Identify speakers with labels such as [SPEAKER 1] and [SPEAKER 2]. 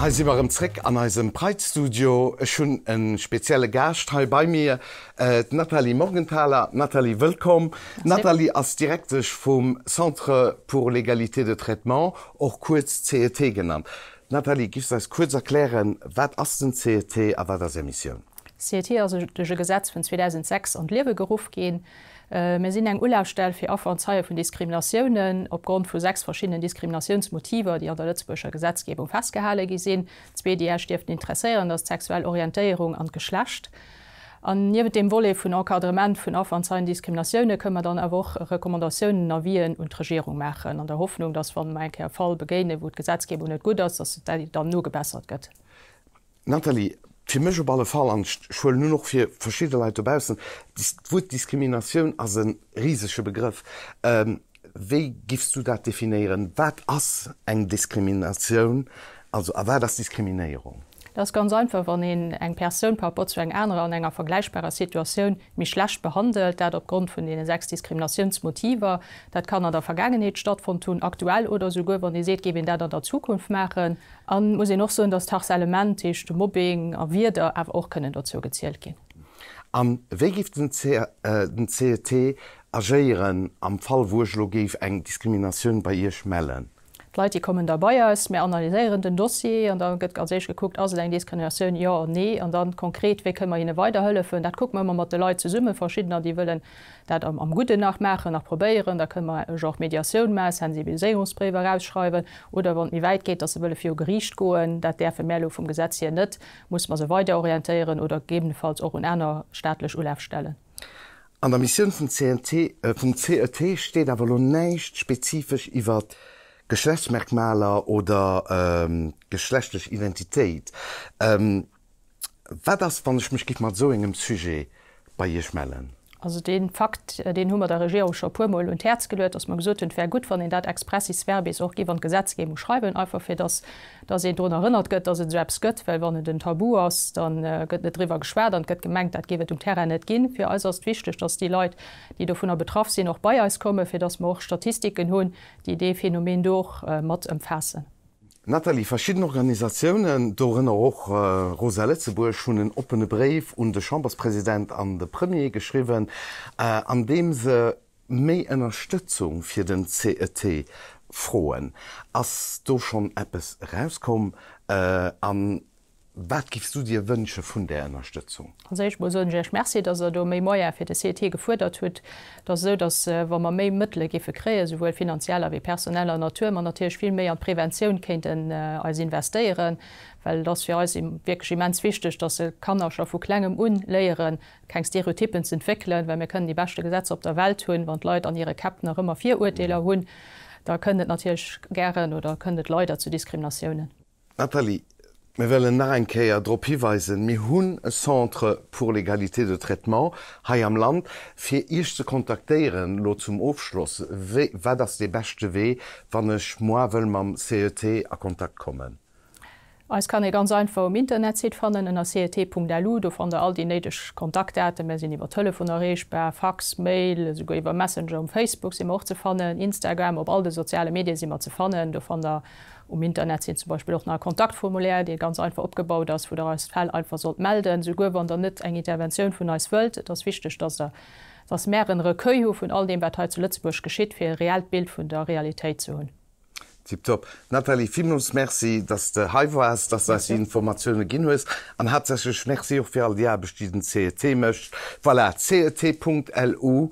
[SPEAKER 1] Hei si mer erëm zréck an eisem Pride-Studio. Ech hunn e spezielle Gaascht hei bei mir, d'Nathalie Morgenthaler. Nathalie, wëllkomm. D'Nathalie ass Direktesch vum Centre pour l'égalité de traitement, och kuerz cet genannt. Nathalie, giffs eis kuerz erklären, wat ass den cet a wat ass Är Missioun? D'CETI ass duerch e Gesetz vun 2006 an d'Liewe geruff ginn. Mir sinn eng Ulafstell fir Affer an Zeie vun Diskriminatiounen opgrond vu sechs verschiddenen Diskriminatiounsmotiver, déi an der Lëtzebuerger Gesetzgebung festgehale gi sinn. Zwee, déi Iech dierften interesséieren, ass d'sexuell Orientéierung an d'Geschlecht. An niewent deem Volet vun Encadrement vun Affer an Zeien Diskriminatiounen, kënnen mer dann awer och Recommandatiounen, Avisen un d'Regierung maachen, an der Hoffnung, dass, wann mer eng Kéier e Fall begéinen, wou d'Gesetzgebung net gutt ass, dass dat dann nogebessert gëtt. Nathalie, Fir mech op alle Fall, an ech huelen un och fir verschidde Leit dobaussen, d'Wuert Diskriminatioun ass e risege Begrëff. Wéi giffs du dat definéieren? Wat ass eng Diskriminatioun, also a wat ass Diskriminéierung? Dat ass ganz einfach, wann een eng Persoun par rapport zu eng anerer an enger vergläichbarer Situatioun méi schlecht behandelt, dat opgrond vun deene sechs Diskriminatiounsmotiver. Dat kann an der Vergaangenheet stattfonnt hunn, aktuell oder esouguer, wann ee seet, géif een dat an der Zukunft maachen. Et muss een och soen, dass d'Harcèlement, heescht de Mobbing a Wierder, awer och kënnen dozou gezielt ginn. A wéi géif den cet agéieren am Fall, wou ech elo géif eng Diskriminatioun bei Iech mellen? D'Leit, déi kommen da bei eis, mir analyséieren den Dossier an da gëtt als éischt gekuckt, Ass et eng Diskriminatioun, jo, nee? An da konkret, Wéi kënne mer hinne weiderhëllefen? Dat kucke mer ëmmer mat de Leit zesummen, verschiddener, déi wëllen dat am Gudden nach maachen, nach probéieren, da kënne mer e Genre Mediatioun maachen, Sensibiliséierungsbréif erausschreiwen oder, wann et méi wäit geet, datt se wëlle viru Geriicht goen, dat däerfe mär elo vum Gesetz hier net, musse mer se weider orientéieren oder gegebenefalls och un aner staatlech Ulafstellen. An der Missioun vum CNT, vum CET steet awer elo näischt spezifesch iwwer Geschlechtsmerkmaler oder geschlechtlech Identitéit. Wat ass, wann ech mech giff mat esou engem Sujet bei Iech mellen? Also dee Fakt, deen hu mer der Regierung scho e puer Mol un d'Häerz geluet, datt mer gesot hunn, et wär gutt, wann een dat expressis verbis och giff an d'Gesetzgebung schreiwen, einfach fir datt datt een drun erënnert gëtt, datt et esou eppes gëtt. Well wann et en Tabu ass, da gëtt net driwwer geschwat an et gëtt gemengt, dat géif et um Terrain net ginn. Fir eis ass et wichteg, datt déi Leit, déi dovunner betraff sinn, och bei eis kommen, fir datt mer och Statistiken hunn, déi dee Phänomen do och mat ëmfaassen. Nathalie, verschidden Organisatiounen, dorënner och Rosa Lëtzebuerg, hunn en oppene Bréif un de Chamberspresident an de Premier geschriwwen, an deem se méi Ënnerstëtzung fir den CET froen. Ass do schonn eppes erauskomm an Wat giffs du dir wënsche vun där Ënnerstëtzung? Als éischt mol soen ech Iech Merci, dass Der do méi Moyen fir de CET gefuerdert hutt. Et ass esou, dass wa mer méi Mëttele géife kréien, souwuel finanzieller wéi personeller Natur, mer natierlech vill méi an d'Preventioun kéinten eis investéieren, well et ass fir eis wierklech immens wichteg, dass Kanner scho vu Klengem un léiere keng Stereotyppen ze entwéckelen, well mir kënnen déi beschte Gesetzer op der Welt hunn, wann d'Leit an hire Käpp nach ëmmer Viruerteeler hunn, da kënnt et natierlech gären oder kënnt et leider zu Diskriminatiounen. Nathalie, Mir wëllen nach eng Kéier drop hiweisen, mir hunn e Centre pour l'égalité de traitement hei am Land. Fir Iech ze kontaktéieren elo zum Ofschloss, wéi, wat ass dee beschte Wee, wann ech moi wëll mam CET a Kontakt kommen? Eis kann ee ganz einfach um Internetsite fannen ënner cet.lu. Do fannt Der all déi néideg Kontaktdaten. Mir sinn iwwer Telefon erreechbar, Fax, Mail, esouguer iwwer Messenger um Facebook si mer och ze fannen, Instagram, op all de soziale Medie si mer ze fannen. Do fannt Der Um Internet sinn zum Beispill och nach e Kontaktformulaire, dee ganz einfach opgebaut ass, wou der eis Fäll einfach sollt melden, souguer wann der net eng Interventioun vun eis wëllt. Et ass wichteg, dass der, dass mäer en Recueil hu vun all deem, wat hei zu Lëtzebuerg geschitt, fir e reellt Bild vun der Realitéit ze hunn. Tiptop. Nathalie, villmools Merci, dass s de hei waars, dass s de eis déi Informatiounen ginn hues. An haaptsächlech Merci och fir all déi Aarbecht, déi den cet mécht. Voilà, cet. Lu